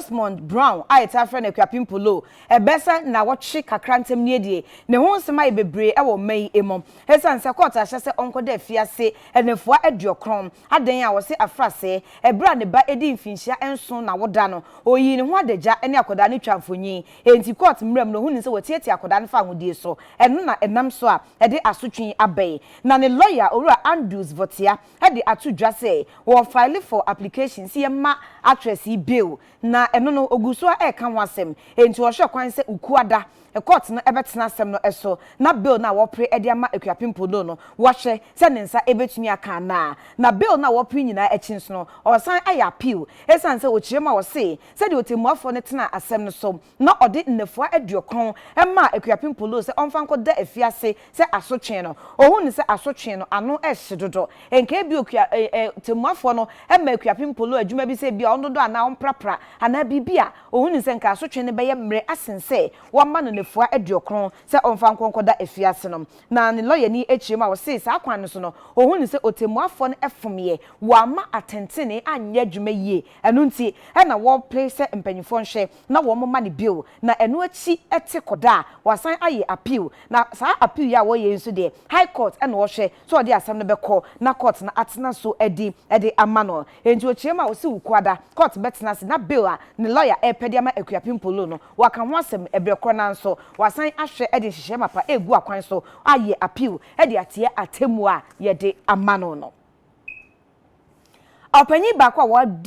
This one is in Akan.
Rosemond Brown a yɛtaa frɛ no Akuapem Polow, ɛbɛyɛ sɛ nnawɔtwe kakra ntam nie deɛ, ne ho nsɛm ayɛ bebree wɔ mma yi mu. Ɛsiane sɛ kɔɔto ahyɛ sɛ ɔnkɔda afiase nnafua aduɔkron, adɛn a wɔse afra sɛɛ, ɛberɛ a ne ba adi mfinhyia nson n'awoda no, ɔyii ne ho adagya ne akwadaa no twaa mfonin. Enti kɔɔto mmeram no, ɔhunuu sɛ wɔatiatia akwadaa no fa ahodie so, ɛno na ɛnam so a ɛde asotwe yi aba yi. Na ne lɔya, Owura Andrews Votia, de ato dwa sɛ wɔ file for application sɛ yɛmma actress yi bail na ɛno no ɔgu so ara reka ho asɛm enti ɔhwɛ kwan sɛ Ukuada court no bɛtena asɛm no so na bail no a wɔpere de ama Akuapem Podo no wɔhwɛ sɛ ne nsa bɛtumi aka anaa na bail no a wɔpere nyinaa akyi nso no ɔresan ayɛ appeal ɛsiane sɛ ɔkyerɛ mu a ɔse sɛdeɛ ɔtɛmmuafoɔ no tenaa asɛm no so na ɔde nnafua aduokron maa Akuapem Polo sɛ ɔmfa nkɔda afiase sɛ asotwee no, ohuu no sɛ asotwee no ano hye dodo. Nkae bi okua eh eh tɛmmuafoɔ no ma Akuapem Polo adwuma bi sɛ ebia ɔndodɔ anaa ɔmprapra anaa biribi a, ohuu no sɛ nka asotwee no bɛyɛ mmere asen sɛ wɔama no nnafua aduokron sɛ ɔmfa nkɔ nkɔda afiase no. Na ne lɔyani akyire mu a ɔsee saa kwan no so no, ohuu no sɛ otɛmmuafoɔ no fomeɛ, wɔamma atentenee anyɛ adwuma yie, ɛno nti na wɔpere sɛ mpanyinfoɔ nhwɛ na wɔma no bio na ɛno akyi ɛte kɔda a wɔasan ayɛ appeal na saa appeal yi a wɔyɛ yi nso deɛ high court ɛna ɔhwɛ sɛ ɔde asɛm no bɛkɔ na court no atena so adi ɛde ama no enti ɔkyeam a ɔse Wukuada court bɛtena ase na bail a ne lawyer ɛrepɛ de ama Akuapem Polo no wɔaka ho asɛm ɛberɛ korɔ no ara nso wɔasan ahwɛ ɛde nhyehyɛɛ mapa ɛregu akwan so ayɛ appeal ɛde atia atemmuo a yɛde ama no no. Ɔpanyin baako a wɔadi.